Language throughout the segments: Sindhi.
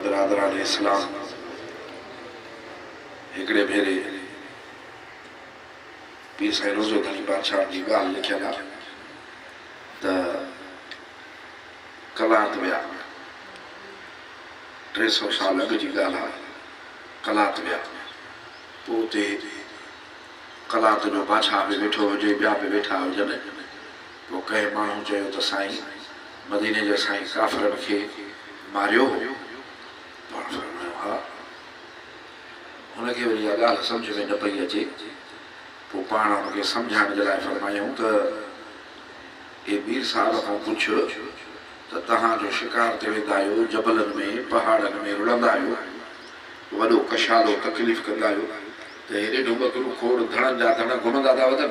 برادران اسلام هڪڙي ڀيري پير سائين روزو ڌڻي بادشاهن جي ڳالهه لکيل آ ته قلات ويا ٽي سؤ سال اڳ جي ڳالهه آ قلات ويا پو اتي قلات جو بادشاهه به ويٺو هجي ٻيا به ويٺا هجن پوء ڪنهن ماڻهو چيو ته سائين مديني جا سائين ڪافرن کي ماريو هو؟ پاڻ فرمايو ها. هن کي وري اها ڳالهه سمجهه ۾ نه پئي اچي، پوء پاڻ هن کي سمجهائڻ جي لاء فرمايائون ته، اي مير صاحب کان پڇ ته توهان جو شڪار تي ويندا آهيو، جبلن ۾، پهاڙن ۾ رڙندا آهيو، وڏو ڪشادو تڪليف ڪندا آهيو ته هيڏي ڍٻ ڪرو کوڙ ڌڻن جا ڌڻ گهمندا ٿا وتن؟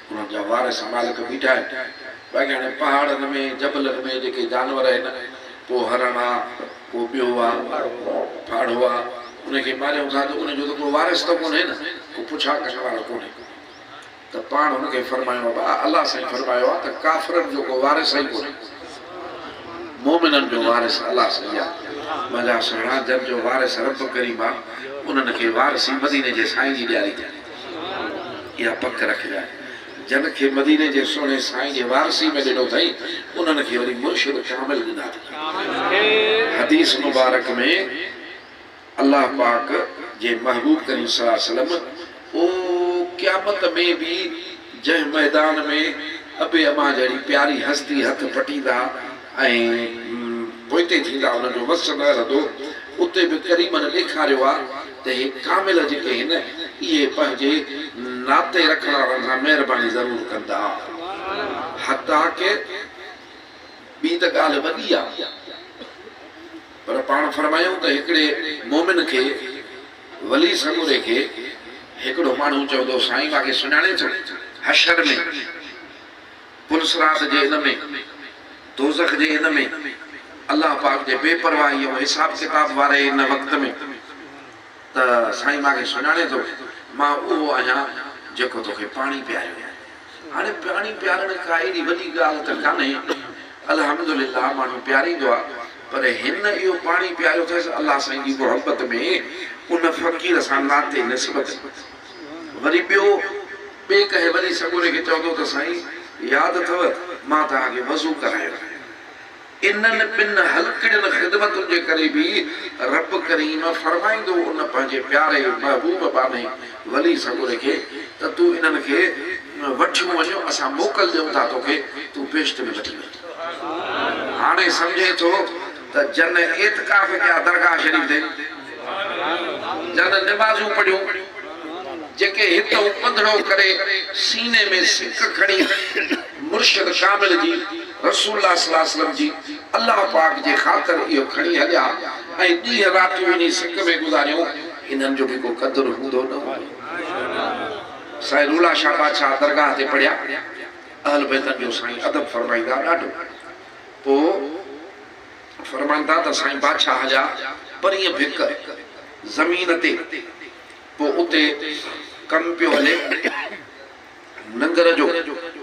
انهن جا وار سمالڪ بيٺا آهن، باقي هاڻي پهاڙن ۾ جبلن ۾ جيڪي جانور آهن، ڪو هرڻ آ، ڪو ٻيو آ، ڦاڙهو آ، ان کي ماريون ٿا ته ان جو ته ڪو وارث ته ڪونهي نه، ڪو پڇا ڪرڻ وارو ڪونهي. ته پاڻ هن کي فرمايو ابا الله سائين فرمايو آ ته ڪافرن جو ڪو وارث ئي ڪونهي. مومنن جو وارث الله سائين آ. منهنجا سهڻا جن جو وارث رب ڪريم آ، انهن کي وارثي مديني جي سائين جي ڏياري ٿي. اها پڪ رکجانء، جن کي مديني جي سهڻي سائين جي وارثي ۾ ڏنو اٿئي، انهن کي وري مرشد ڪامل ڏنا اٿئي. حديث مبارڪ ۾ الله پاڪ جي محبوب ڪريم صلي الله عليه وسلم او قيامت ۾ به جنهن ميدان ۾ ابي امان جهڙي پياري هستي هٿ پٽيندا ۽ پوئتي ٿيندا انهن جو وس نه رهندو، اتي به ڪريمن ڏيکاريو آ. ته هي ڪامل جيڪي آهن اهي پنهنجي ناتي رکڻ وارن سان مهرباني ضرور ڪندا حتيٰ ڪه ٻي ته ڳالهه وڏي آ پر پاڻ فرمايائون ته هڪڙي مومن کي ولي سڳوري کي هڪڙو ماڻهو چوندو سائين مانکي سڃاڻي ٿو حشر ۾ هن صراط جي ان ۾، دوزخ جي ان ۾، الله پاڪ جي بي پرواهي ۽ حساب ڪتاب واري ان وقت ۾، ته سائين مانکي سڃاڻين ٿو، مان اهو آهيان جيڪو توکي پاڻي پياريو هو. هاڻي پاڻي پيارڻ ڪا ايڏي وڏي ڳالهه ته ڪانهي، الحمد لله ماڻهو پياريندو آهي، پر هن اهو پاڻي پياريو اٿس الله سائين جي محبت ۾، ان فقير سان ناتي نسبت ۾. وري ٻيو ٻئي ڪهي وڃي سڳوري کي چوندو ته سائين ياد اٿئو مان توهان کي وضو ڪرايو هو. انهن ٻن هلڪڙين خدمتن جي ڪري به رب ڪريم فرمائيندو ان پنهنجي پياري محبوب ٻانهي ولي سڳوري کي ته تون انهن کي وٺيون وڃ اسان موڪل ڏيون ٿا توکي تون بهشت ۾ وٺي وڃ. هاڻي سمجهين ٿو؟ ته جن اعتڪاف ڪيا درگاهه شريف تي، جن نمازون پڙهيون، جيڪي هت ۽ پڌڙو ڪري سيني ۾ سڪ کڻي مرشد ڪامل جي، رسول الله صلي الله عليه وسلم جي، الله پاڪ جي خاطر اهو کڻي هليا ۽ ڏينهن راتيون انهي سڪ ۾ گذاريون، انهن جو به ڪو قدر هوندو نه هوندو. سائين رولا شاهه بادشاهه درگاهه تي پڙهيا، اهل بيتن جو سائين ادب فرمائيندا ڏاڍو. پوء فرمائن ٿا ته سائين بادشاهه جا پرينء به هڪ زمين تي پوء اتي ڪم پيو هلي ننگر جو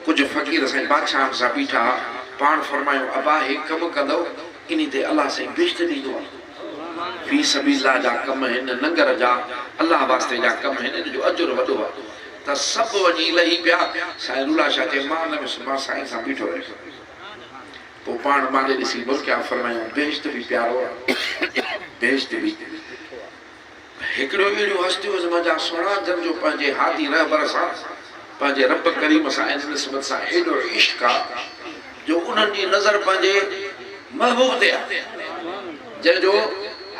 ڪجهه فقير سائين بادشاهن سان بيٺا ها پاڻ فرمايو ابا هي ڪم ڪندؤ انهي تي الله سائين بهشت ڏيندو آ في سبيل الله جا ڪم هن ننگر جا الله واسطي جا ڪم هن ان جو اجر وڏو آ ته سڀ وڃي لهي پيا سائين رولا شاهه چئي مان نه ويس مان سائين سان بيٺو رهيس. پوء پاڻ مان ڏي ڏسي مسڪيا فرمايائون، بهشت به پيارو آ، بهشت به ڏکو آ. هڪڙيون اهڙيون هستيون هن منجهان سهڻا جن جو پنهنجي هادي رهبر سان، پنهنجي رب ڪريم سان ان نسبت سان ايڏو عشق آ جو انهن جي نظر پنهنجي محبوب تي آ جنهن جو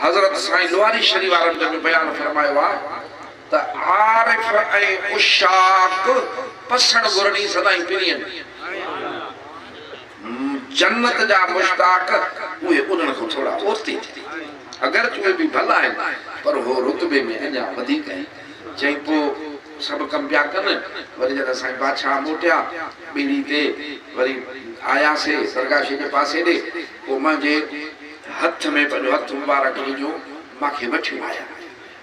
حضرت سائين لواري شريف وارن جنهن جو بيان فرمايو آ. ته عارف ۽ عشاق پسڻ ٻرڙي سدائين پرين جنت جا مشتاق اهي انهن کان ٿورا پوئتي اگرچ اهي به ڀلا آهن پر هو رتبي ۾ اڃا وڌيڪ آهن چئين پوء سڀ ڪم پيا ڪن وري جڏهن سائين بادشاهه موٽيا ٻيڙي تي وري آيا سي درگاشي جي پاسي ڏي پوء منهنجي هٿ ۾ پنهنجو هٿ مبارڪ وجهيون مان کي وٺيون آيا.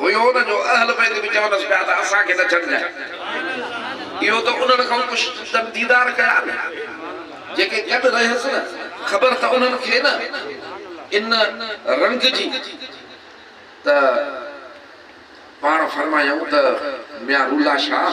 هيو نه جو اهل بيت به چونس پيا ته اسان کي نه ڇڏجانء. اهو ته انهن کان ڪش جن ديدار ڪيا نه، جيڪي گڏ رهيس نه، خبر ته انهن کي نه ان رنگ جي ته پاڻ فرمايائون ته ميان رولا شاهه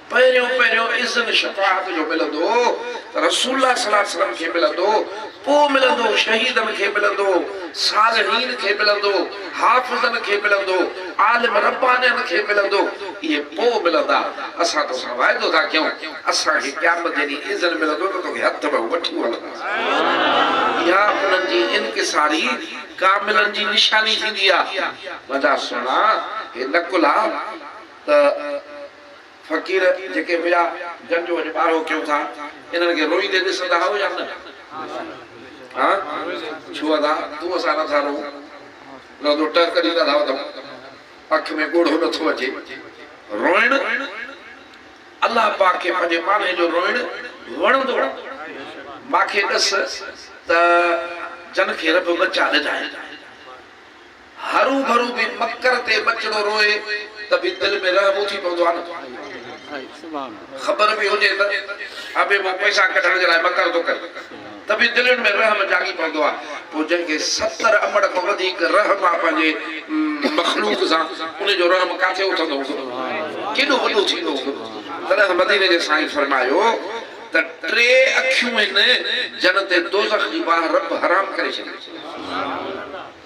پهريون پهريون اذن شفاعت جو ملندو هو ته رسول الله صلي الله عليه وسلم کي ملندو، پوء ملندو هو شهيدن کي ملندو هو، صالحين کي ملندو هو، حافظن کي ملندو هو، عالم ربانين کي ملندو هو، اهي پوء ملندا، اسان تو سان وعدو ٿا ڪيون، اسان کي قيامت جي ڏينهن اذن ملندو ته توکي هٿ ۾ وٺي هلنداسين. اها انهن جي انڪساري ڪاملن جي نشاني ٿيندي آهي. منهنجا سهڻا! هي نه ڪلها ته. فقير جيڪي مليا جن جو اڄ ٻارهو ڪيون ٿا انهن کي روئيندي ڏسندا آهيو يا نه؟ ها ڇو ادا تون اسان نٿا روئون لڳندو ٽهڪ ڏيندا ٿا وڌؤ اک ۾ ڳوڙهو نٿو اچي روئڻ الله پاڪ کي پنهنجي ماڻهي جو روئڻ وڻندو آهي ماکي ڏس ته جن کي رب ٻچا ڏنا آهن هروڀرو به مڪر تي ٻچڙو روئي ته به دل ۾ رحم اٿي پوندو آهي نه. خبر به هجي ته ابي مان پئسا ڪڍڻ جي لاء مڪر ٿو ڪري ته به دلين ۾ رحم جاڳي پوندو آهي. پوء جنهن کي ستر امڙ کان وڌيڪ رحم آهي پنهنجي مخلوق سان ان جو رحم ڪاٿي اٿندو هوندو؟ ڪيڏو وڏو ٿيندو هوندو؟ تڏهن ته مديني جي سائين فرمايو ته ٽي اکيون هن جنت ۽ دوزخ جي باهه رب حرام ڪري ڇڏيون.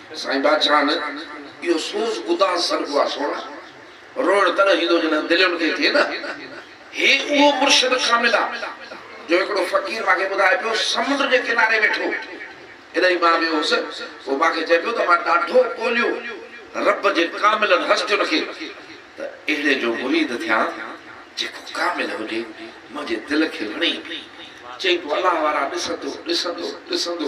سائين بادشاهن اهو سوز اداس سڏبو آ سوڻا. روئڻ تڏهن ايندو جڏهن دلين تي ٿئي نه. هي اهو مرشد ڪامل آ جو هڪڙو فقير مانکي ٻڌائي پيو سمنڊ جي ڪناري ويٺو جڏهن مان ويو هوس پوء مانکي چئي پيو ته مان ڏاڍو ڳوليو رب جي ڪاملن هستين کي ته اهڙي جو مريد ٿيان جيڪو ڪامل هجي منهنجي دل کي وڻي چئي پيو الله وارا ڏسندو ڏسندو ڏسندو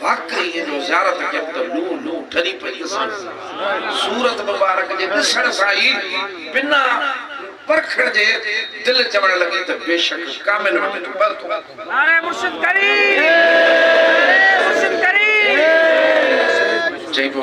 واقعي هن جو زيارت ڪيم ته لو لو ٺري پئي ڏسان. صورت مبارڪ جي ڏسڻ سان ئي بنا پرکڻ جي دل چوڻ لڳي ته بيشڪ ڪامل وٽ هڪ پل ٿو. نعري مرشد ڪريم نعري مرشد ڪريم. چئي پيو.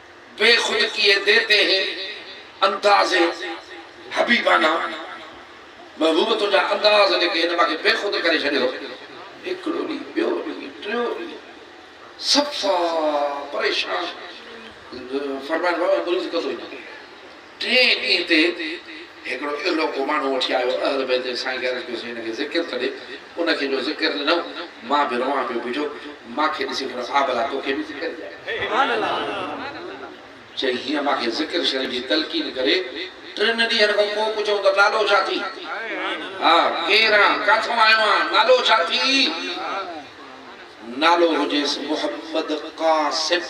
بي خود ڪيئي ديتي هي انداز حبيبانه محبوب تنهنجا انداز جيڪي هن مان کي بي خود ڪري ڇڏيو هو هڪڙو ڏينهن ٻيو ڏينهن ٽيون ڏينهن صفا پريشان فرمائن بابا مريض ڪندو وڃي ٽئين ڏينهن تي هڪڙو اهلوڪو ماڻهو وٺي آيو، اهل بيت جي سائين غيرت ڪيو سائين هن کي ذڪر ته ڏي، ان کي جو ذڪر ڏنو، مان به روئان پيو بيٺو، مان کي ڏسي پڻ آء ڀلا توکي به ذڪر ڏيان. چئي هيئن مان کي ذڪر شريف جي تلقين ڪري، ٽن ڏينهن کان پوء پڇيائون ته نالو ڇا ٿي؟ ها ڪير آن؟ ڪاٿون آيو آن؟ نالو ڇا ٿي؟ نالو هجيس محمد قاسم.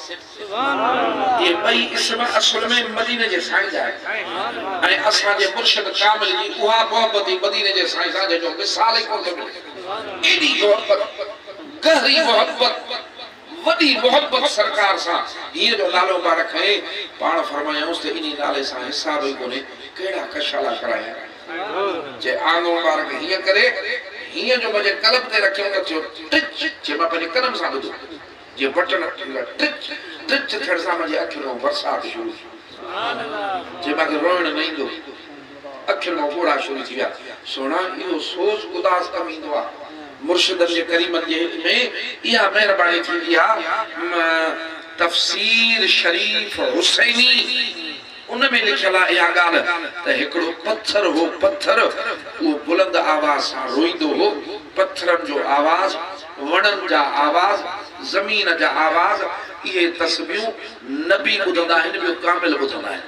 اهي ٻئي اسم اصل ۾ مديني جي سائين جا آهن ۽ اسان جي مرشد ڪامل جي اها محبت ئي مديني جي سائين سان جنهن جو مثال ئي ڪونه ٿو ملي. ايڏي محبت، گهري محبت، وڏي محبت سرڪار سان هيء جو نالو ما رکئين، پاڻ فرمايائونس ته انهي نالي سان حساب ئي ڪونهي، ڪهڙا ڪشالا ڪرايا، جي آنو مبارڪ هيئن ڪري هيئن جو منهنجي قلب تي رکيم ته ٿيو ٽچ جي مان پنهنجي ڪنن سان ٻڌو جي بٽڻ ٽچ ٽچ ٿيڻ سان منهنجي اکين مان برسات شروع ٿي جي مان کي روئڻ نه ايندو اکين مان ڳوڙها شروع ٿي ويا سهڻا اهو سوز اداس ڪم ايندو آ مرشدن جي ڪريمن جي هت ۾ اها مهرباني ٿيندي آ تفسير شريف حسيني. ان ۾ لکيل آ اها ڳالهه ته هڪڙو پٿر هو پٿر اهو بلند آواز سان روئيندو هو پٿرن جو آواز وڻن جا آواز زمين جا آواز اهي تسبيون نبي ٻڌندا آهن ٻيو ڪامل ٻڌندا آهن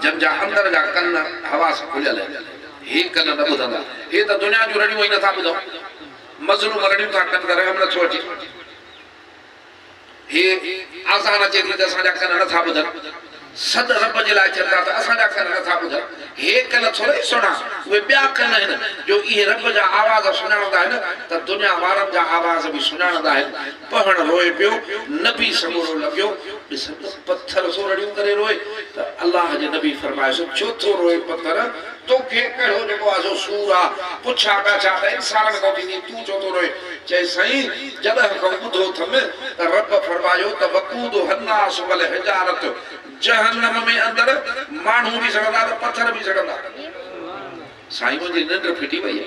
جن جا اندر جا ڪن هوا سان کليل آهن هي ڪن نه ٻڌندا هي ته دنيا جون رڙيون ائين نٿا ٻڌون مظلوم رڙيون ٿا ڪن ته رحم نٿو اچي. هي آذان اچي ٿي ته اسان جا ڪن نٿا ٻڌن، سڏ رب جي لاء ٿين ٿا ته اسان جا ڪن نٿا ٻڌن، هي ڪن ٿورئي سهڻا، اهي ٻيا ڪن آهن، جو اهي رب جا آواز سڃاڻندا آهن ته دنيا وارن جا آواز به سڃاڻندا آهن. پهڻ روئي پيو، نبي سمورو لڳيو ڏسڻ ته پٿر ٿو رڙيون ڪري روئي ته الله جي نبي فرمايس، ڇو ٿو روئي پٿر؟ تو کي ڪهڙو جيڪو آزو سور آ، پڇ آڳا ڇا ته انسان ۾ ڪو ٿيندين، تون ڇو ٿو روئين؟ چيس سائين جڏهن کان ٻڌو ٿم ته رب فرمايو ته وقودها الناس والحجارة جهنم ۾ اندر ماڻهو به سڙندا ته پٿر به سڙندا. سائين منهنجي ننڊ ڦٽي وئي آ.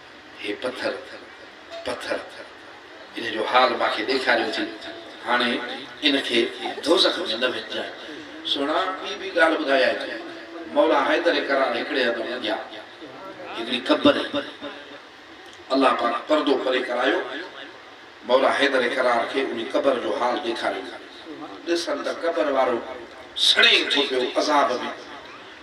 هي پٿر پٿر ان جو حال مان کي ڏيکاريو ٿي، هاڻي ان کي دوزخ ۾ نه وجهجانء. سهڻا، ٻي به ڳالهه ٻڌايائين ته مولا حيدر ڪرار هڪڙي هنڌ منجهيا هڪڙي قبر هئي. الله پاڪ پردو پري ڪرايو. مولا حيدر ڪرار کي انهي قبر جو حال ڏيکاريو. ڏسن ته قبر وارو سڙي ٿو پيو عذاب ۾.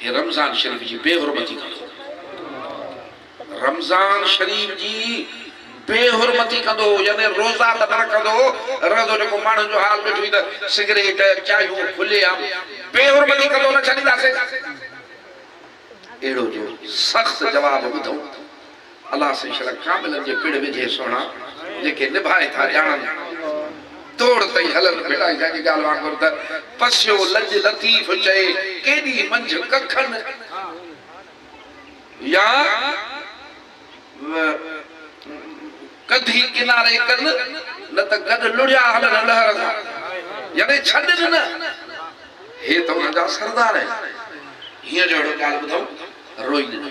هي رمضان شريف جي بي حرمتي ڪندو هو. رمضان شريف جي بي حرمتي ڪندو هو يعني روزا ته نه رکندو هو رهندو جيڪو ماڻهن جو حال ڏٺوئي ته سگريٽ چايون کلي عام بي حرمتي ڪندو نه ڇڏينداسين اهڙو جو سخت جواب ٻڌئون. الله سين شرع ڪاملن جي پڙ وجهي سهڻا جيڪي نڀائي ٿا ڄاڻن توڙ تئي هلن ڀٽائي سائين جي ڳالهه وانگر ته پسيو لڄ لطيف چئي ڪيڏي منجهه ڪکن يا ڪڌي ڪناري ڪن نه ته گڏ لڙيا هلن لهر سان يعني ڇڏ ڏن هي ته انهن جا سردار آهن هينئر اهڙو ڳالهه ٻڌئون روئي ڏنو.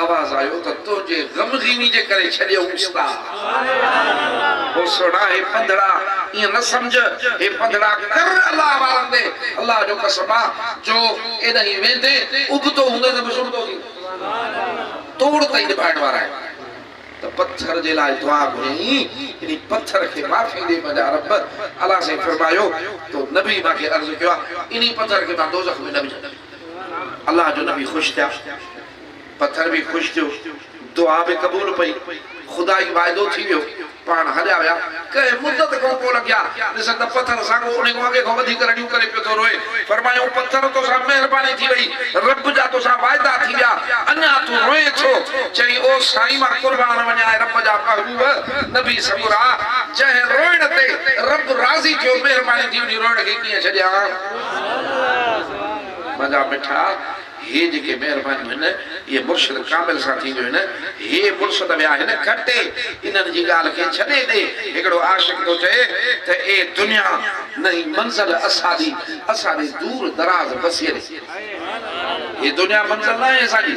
آواز آيو ته تنهنجي غمغيني جي ڪري ڇڏيئون استاد. هو سهڻا هي پنڌڙا ائين نه سمجهه هي پنڌڙا ڪر الله وارن تي الله جو قسم آ جو ايڏانهين ويندين ابتو هوندين ته به سرتو ٿيندين توڙ تائين نڀائڻ وارا آهن ته پٿر جي لاء دعا گهريائين انهي پٿر کي معافي ڏي منهنجا رب اعليٰ سائين فرمايو تو نبي مان کي عرض ڪيو آ انهي پٿر کي مان دوزخ ۾ نه وجهندين. الله جو نبي خوش ٿيا، پٿر به خوش ٿيو، دعا به قبول پئي، خدائي واعدو ٿي ويو، پاڻ هليا ويا، ڪنهن مدت کان پوء لنگهيا، ڏسن ته پٿر اسانکو انهي کان اڳي کان وڌيڪ رڙيون ڪري پيو ٿو روئي، فرمايائون پٿر توسان مهرباني ٿي وئي، رب جا توسان واعدا ٿي ويا، اڃا تون روئين ڇو؟ چيائين او سائين مان قربان وڃان اي رب جا محبوب، نبي سڳورا، جنهن روئڻ تي رب راضي ٿيو، مهرباني ٿي انهي روئڻ کي ڪيئن ڇڏيان؟ منهنجا مٺا، هي جيڪي مهربانيون هن، اهي مرشد ڪامل سان ٿينديون هن. هي مرشد ويا هن کٽي، انهن جي ڳالهه کي ڇڏي ڏي. هڪڙو عاشق ٿو چئي ته اي دنيا! نه هي منزل اساڏي، اساڏي دور دراز بسيري. هي دنيا منزل ناهي اسان جي.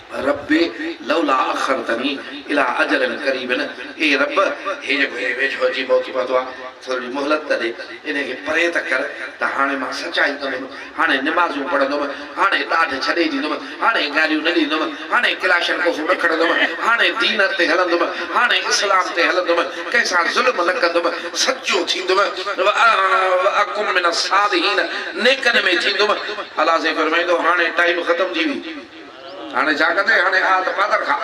ربّ لولا اخرتني الي اجل قريب اي ربّ هي جيڪو هي ويجهو اچي پهتي پهتو آ ٿورڙي مهلت ته ڏي انهي کي پري ته ڪر ته هاڻي مان سچائي ڪندم هاڻي نمازون پڙهندم هاڻي ڏاڍ ڇڏي ڏيندم هاڻي گاريون نه ڏيندم هاڻي ڪلاشن ڪوفون نه کڻندم هاڻي دين تي هلندم هاڻي اسلام تي هلندم ڪنهن سان ظلم نه ڪندم سچو ٿيندم واڪم من الصالحين نيڪن ۾ ٿيندم الله سائين فرمائيندو هاڻي ٽائيم ختم ٿي ويو هاڻي ڇا ڪندي هاڻي آ ته پادر کان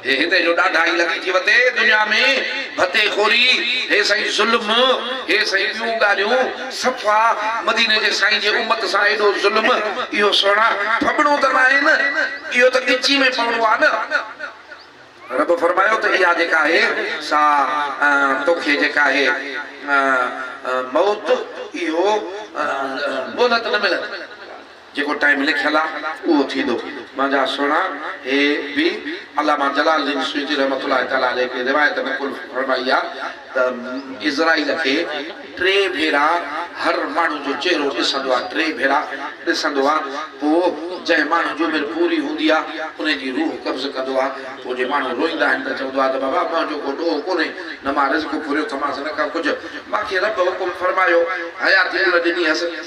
هي هتي جو ڏاڍا ئي لڳي ٿي وتي دنيا ۾ ڀتي خوري هي سائين ظلم هي سائين ٻيون ڳالهيون صفا مديني جي سائين جي امت سان ايڏو ظلم اهو سهڻا ڦٻڻو ته ناهي نه اهو ته ڳچي ۾ پوڻو آ نه رب فرمايو ته اها جيڪا آهي سا توکي جيڪا آهي موت اهو مهلت نه ملندي. جيڪو ٽائيم لکيل آ اهو ٿيندو. منهنجا سهڻا هي به علامه جلال الدين سيوطي رحمة الله تعالٰي عليه هڪڙي روايت نقل فرمائي آ ته عزرائيل کي ٽي ڀيرا هر ماڻهو جو چهرو ڏسندو آ ٽي ڀيرا ڏسندو آ پوء جنهن ماڻهو جي عمر پوري هوندي آ انهي جي روح قبض ڪندو آ پوء جي ماڻهو روئيندا آهن ته چوندو آ ته بابا منهنجو ڪو ڏوهه ڪونهي نه مان رزق ڦريو ٿمانس نه ڪا ڪجهه مانکي رب حڪم فرمايو حياتي ان ڏني هيس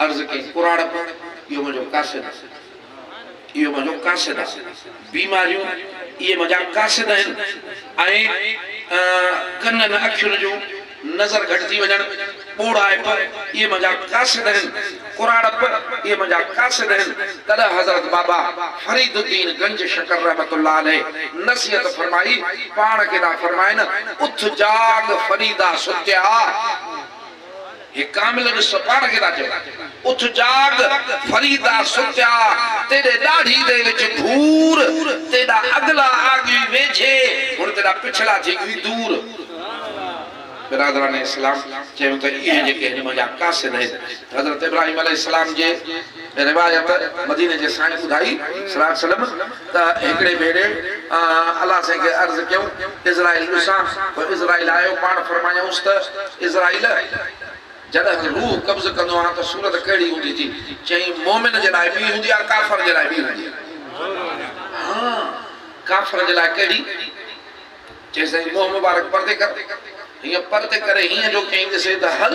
عرض ڪئي، پراڙپ، اهو منهنجو قاصد آ. اهو منهنجو قاصد آ. بيماريون اهي منهنجا قاصد آهن ۽ ڪنن اکين جون، نظر گهٽجي وڃڻ، ٻوڙائپ، اهي منهنجا قاصد آهن. ڪراڙپ، اهي منهنجا قاصد آهن. تڏهن حضرت بابا فريد الدين گنج شڪر رحمة الله عليه نصيحت فرمائي، پاڻ کي ٿا فرمائن، اٿ جاڳ فريدا ستيا! هي ڪامل به سو پاڻ کي ٿا چون. اٿ جاڳ فريدا ستيا تيڏي ڏاڙهي دي وچ گهور تيڏا اڳلا آڳوي ويجهي هن تيڏا پڇلا ٿي ڳوي دور. برادران اسلام چيم ته اهي جيڪي هن منجهان قاصد آهن حضرت ابراهيم عليه السلام جي. روايت، مديني جي سائين ٻڌائي صلّي الله عليه وسلّم ته هڪڙي ڀيري الله سائين کي عرض ڪيائون عزرائيل ڏسان، پوء عزرائيل آيو، پاڻ فرمايائونس ته عزرائيل! جڏهن روح قبض ڪندو آهان ته صورت ڪهڙي هوندي ٿي؟ چيائين مؤمن جي لاء ٻي هوندي آهي ڪافر جي لاء ٻي هوندي آهي. ها! ڪافر جي لاء ڪهڙي؟ چيائين سائين منهن مبارڪ پردي ڪر، هيئن پردي ڪري هيئن جو ڪنهن ڏسي ته هل!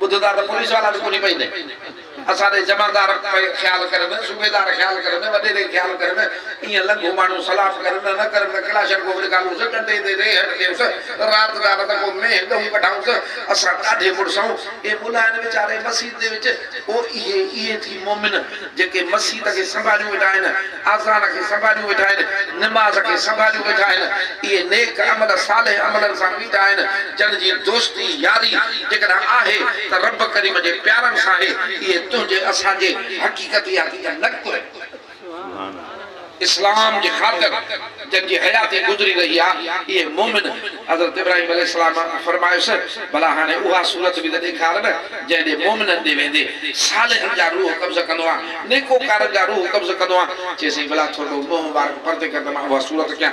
ٻڌ ٿا ته پوليس وارا به ڪونهي پئي ڏئي. اسان ڏي جمعردار پئي خيال ڪرن، صوبيدار خيال ڪرن، وڏيري خيال ڪرن، ائين لنگهو ماڻهو سلاف ڪرن نه ڪرن ته ڪلاشن ڪوف نڪالونس، ٽنڊي تي ريهڙ ڏيونس، رات ڏار ته ڪو مينهن ڳئون ڪڍائونس، اسان ڏاڍي مڙس آهون. اي ملاين ويچاري مسيت جي وچ او اهي اهي ٿي مومن. جيڪي مسيت کي سنڀاليون ويٺا آهن، آذان کي سنڀاليون ويٺا آهن، نماز کي سنڀاليون ويٺا آهن، اهي نيڪ عمل صالح عملن سان بيٺا آهن، جن جي دوستي، ياري، جيڪڏهن آهي ته رب ڪريم جي پيارن سان آهي، اهي تنهنجي، اسان جي، حقيقتياتي جا نقطو آهن. اسلام جي خاطر جن جي حياتي گذري رهي آ اهي مومن حضرت ابراهيم عليه السلام کان فرمايس ڀلا هاڻي اها صورت به ته ڏيکار نه جنهن ڏي مومنن ڏي ويندي صالحن جا روح قبض ڪندو آ نيڪوڪارن جا روح قبض ڪندو آ چيسين ڀلا ٿورڙو منهن مبارڪ پرتي ڪر ته مان اها صورت ڪيان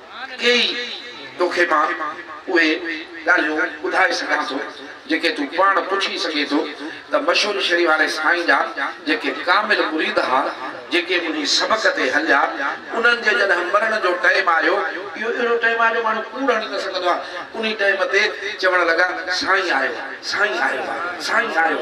ڪيئي توکي مان اهي ڳالهيون ٻڌائي سگهان ٿو جيڪي تون پاڻ پڇي سگهين ٿو ته مشهور شريف واري سائين جا جيڪي ڪامل مريد ها جيڪي منهنجي سبق تي هليا انهن جي جڏهن مرڻ جو ٽئيم آيو اهو اهڙو ٽئيم آيو جو ماڻهو ڪوڙ هڻي نه سگهندو آهي انهي ٽئيم تي چوڻ لڳا سائين آيو سائين آيو سائين آيو.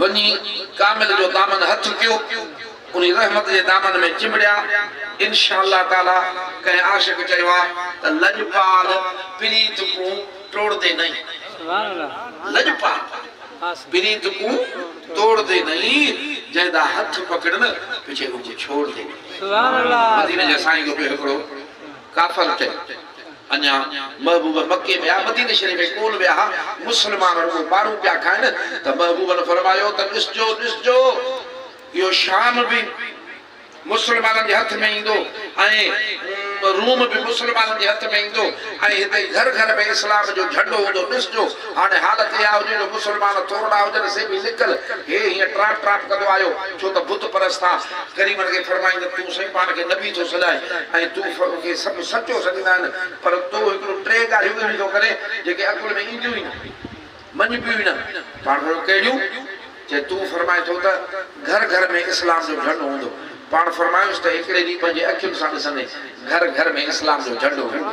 وڃي ڪامل جو دامن هٿ ڪيو، انهي رحمت جي دامن ۾ چنبڙيا. انشاء الله تعاليٰ ڪنهن عاشق چيو آهي ته لڄپال پريت ڪون ٽوڙدي نئين. لڄپال پريت ڪون ٽوڙدي نئين، جنهن دا هٿ پڪڙن پڇي رڳو ڇوڙدي نئين. مديني جي سائين جو ٻيو هڪڙو ڪافر تي اڃا محبوب مڪي ۾ آ مديني شريف ۾ ڪون ويا ها مسلمان رڳو مارون پيا کائن ته محبوب نه فرمايو ته ڏسجو ڏسجو اهو شام به مسلمانن جي هٿ ۾ ايندو ۽ روم به مسلمانن جي هٿ ۾ ايندو ۽ هتي گهر گهر ۾ اسلام جو جهنڊو هوندو ڏسجو هاڻي حالت اها هجي جو مسلمان ٿورڙا هجن سي به لڪل هي هيئن ٽراپ ٽراپ ڪندو آيو ڇو ته بت پرست ٿا غريبن کي ڦرمائين ته تون سائين پاڻ کي نبي ٿو سڏائين ۽ تون کي سڀ سچو سڏيندا آهن پر تو هڪڙو ٽي ڳالهيون اهڙيون ٿو ڪرين جيڪي عقل ۾ اينديون ئي نه مڃبيون ئي نه پاڻ ڦرمائي ڪهڙيون چي تون ڦرمائين ٿو ته گهر گهر ۾ اسلام جو جهنڊو هوندو پاڻ ڦرمايوس ته هڪڙي ڏينهن پنهنجي اکين سان ڏسندين گهر گهر ۾ اسلام جو جهنڊو هوندو.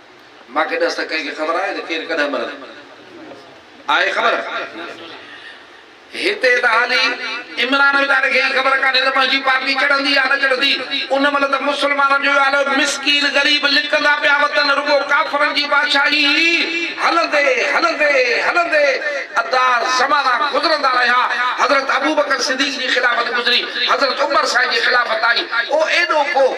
مان کي ڏس ته ڪنهن کي خبر آهي ته ڪير ڪڏهن مرندو؟ آهي خبر؟ هتي ته هالي عمران ويچاري کي ئي خبر ڪانهي ته پنهنجي پارٽي چڙهندي يا نه چڙهندي. ان مهل ته مسلمانن جو ئي حال هو، مسڪين غريب لڪندا پيا وتن، رڳو ڪافرن جي بادشاهي هئي. هلندي هلندي هلندي ادا زمانا گذرندا رهيا. حضرت ابوبڪر صديق جي خلافت گذري، حضرت عمر سائين جي خلافت آئي. او ايڏو ڪو.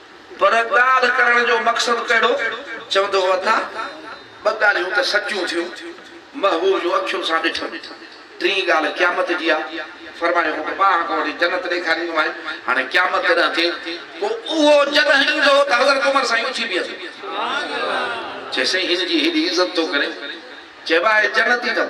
پر ڳالهه ڪرڻ جو مقصد ڪهڙو؟ چوندو هو اٿا، ٻه ڳالهيون ته سچيون ٿيون، محبوب جون اکيون سان ڏٺم. ٽين ڳالهه قيامت جي آ. فرمايو هو ته ٻانهن ڪوڙي جنت ڏيکاريندومانء. هاڻي قيامت جڏهن ٿئي، پوء اهو جڏهن ايندو ته حضرت عمر سائين اٿي بيهندو. چيس سائين هن جي هيڏي عزت ٿو ڪرين، چئبو آهي جنت ايندم.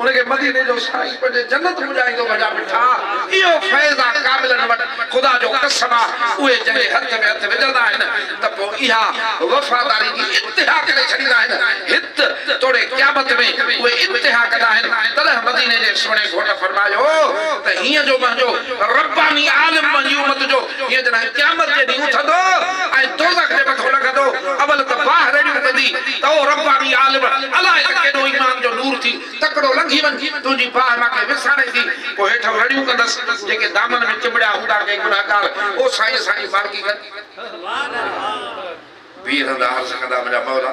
ان کي مديني جو سائين پنهنجي جنت پڄائيندو منهنجا مٺا اهو فيض آ ڪاملن وٽ خدا جو قسم آ اهي جنهن جي هٿ ۾ هٿ وجهندا آهن ته پوء اها وفاداري جي انتها ڪري ڇڏيندا آهن هت توڙي قيامت ۾ اهي انتها ڪندا آهن تڏهن مديني جي سهڻي گهوٽ فرمايو ته هينئن جو منهنجو رباني عالم منهنجي امت جو جو هيء جڏهن قيامت جي ڏينهن اٿندو ۽ دوزخ جي مٿو لڳندو، اول ته باهه رڙيون ڪندي ته او رباني عالم، الاء ته ڪيڏو ايمان جو نور ٿي تڪڙو لنگهي وڃ، تنهنجي باهه مان ڪنهن وساڻي ٿي، پوء هيٺئون رڙيون ڪندس، جيڪي دامن ۾ چنبڙيا هوندا ڪي گنهگار، او سائين اسان جي مالڪي ڪر. بيهندا عرض ڪندا منهنجا مولا!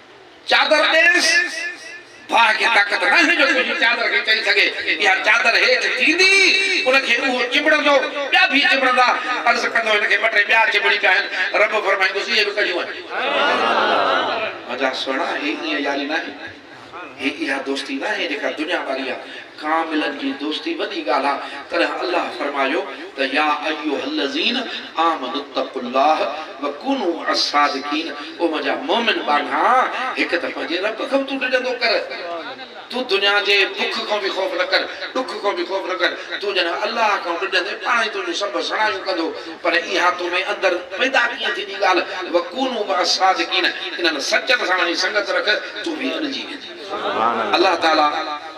چادر ڏيس، باهه کي طاقت ناهي جو تنهنجي چادر کي چئي سگهي، اها چادر هيٺ ٿيندي، ان کي اهو چنبڙندو، ٻيا ڀي چنبڙندا، عرض ڪندو هن کي ٻه ٽي ٻيا چنبڙي پيا آهن، رب فرمائيندوس اهي به ڪڍيون آهن. منهنجا سهڻا هي ائين ياري ناهي، هي اها دوستي ناهي جيڪا دنيا واري آهي. ڪاملن جي دوستي وڏي ڳالهه آهي، تڏهن الله فرمايو ته يا ايها الذين آمنوا اتقوا الله وڪونوا مع الصادقين او منهنجا مؤمن ٻانها! هڪ ته پنهنجي رب کان تون ڊڄندو ڪر، تون دنيا جي بک کان به خوف نه ڪر، ڏک کان به خوف نه ڪر، تون جڏهن الله کان ڊڄندين پاڻ ئي تنهنجون سڀ سڻايون ڪندو، پر اها تو ۾ اندر پيدا ڪيئن ٿيندي ڳالهه، وڪونوا مع الصادقين انهن سچن سان وڃي سنگت رک، تون به اڏجي ويندين. الله تعالي.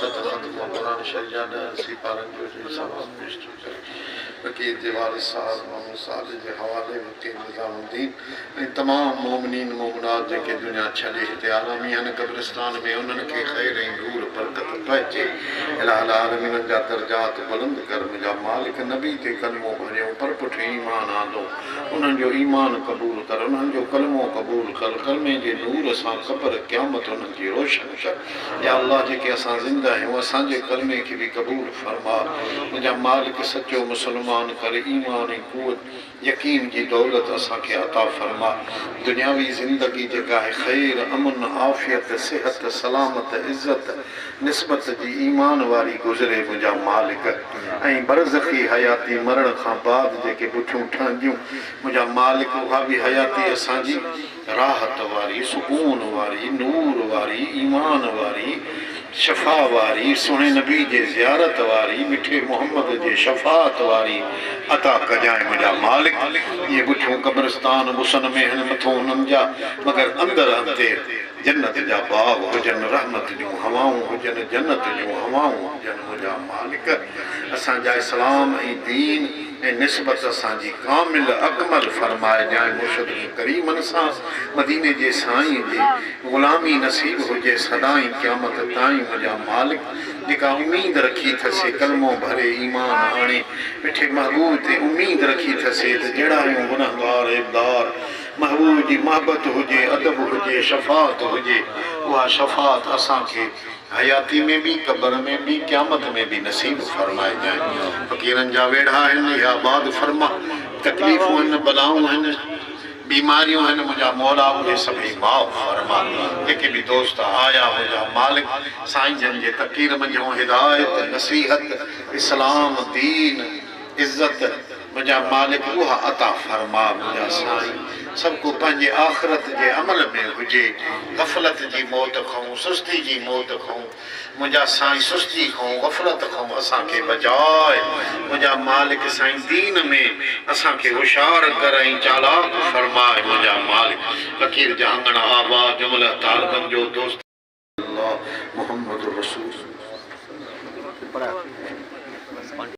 صدر وقت مان قرآن شريف جا ڏهه سيپارن جو جي ثواب پيش ٿيو ڪري. فقير جي وارث صاحب محمد صالح جي حوالي فقير نظام الدين ۽ تمام مؤمنين مؤمنات جيڪي دنيا ڇڏي هتي آرامي آهن قبرستان ۾ انهن کي خير ۽ نور برڪت پهچي اله العالمين جا درجات بلند ڪر منهنجا مالڪ نبي تي ڪلمو ڀريون پر پٺ ايمان آندو انهن جو ايمان قبول ڪر انهن جو ڪلمو قبول ڪر ڪلمي جي نور سان قبر قيامت انهن جي روشن ڪر. يا الله جيڪي اسان زنده آهيون اسان جي ڪلمي کي به قبول فرما منهنجا مالڪ سچو مسلمان ڪر ايمان ۽ قوت يقين جي دولت اسان کي عطا فرما دنياوي زندگي جيڪا آهي خير امن عافيت صحت سلامت عزت نسبت جي ايمان واري گذري منهنجا مالڪ ۽ برزخي حياتي مرڻ کان بعد جيڪي بٺيون ٺهنديون منهنجا مالڪ اها به حياتي اسان جي راحت واري، سڪون واري، نور واري، ايمان واري، شفا واري، سهڻي نبي جي زيارت واري، مٺي محمد جي شفاعت واري عطا ڪجانء منهنجا مالڪ، اهي ڳٺيون قبرستان غصن ۾ هن مٿون هنن جا، مگر اندر انتير جنت جا باغ هجن، رحمت جون هوائون هجن، جنت جون هوائون هجن منهنجا مالڪ، اسان جا اسلام ۽ دين. ۽ نسبت اسان جي ڪامل اڪمل فرمائي جانء مرشد جو ڪريمن سان مديني جي سائين جي غلامي نصيب هجي سدائين قيامت تائين ان جا مالڪ جيڪا اميد رکي ٿي سي ڪلمو ڀري ايمان آڻي مٺي محبوب تي اميد رکي ٿي سي ته جهڙايون گنهگار عيبدار محبوب جي محبت هجي ادب هجي شفاعت هجي اها شفاعت اسان کي حياتي ۾ به، قبر ۾ به، قيامت ۾ به نصيب فرمائجانء. فقيرن جا ويڙها هن، اهي آباد فرماء. تڪليفون هن، بلائون هن، بيماريون هن، منهنجا مولا اهي سڀئي معاف فرماء. جيڪي به دوست آيا منهنجا مالڪ، سائين جن جي تقرير منجهون هدايت، نصيحت، اسلام، دين، عزت، منهنجا مالڪ اها عطا فرما منهنجا سائين سڀ ڪو پنهنجي آخرت جي عمل ۾ هجي غفلت جي موت کئون سستي جي موت کئون منهنجا سائين سستي کئون غفلت کئون اسان کي بچاء منهنجا مالڪ سائين دين ۾ اسان کي هوشيار ڪر ۽ چالاڪ فرماء منهنجا مالڪ فقير جهانگڻ آباد جمله طالبن جو دوست الله محمد رسول الله.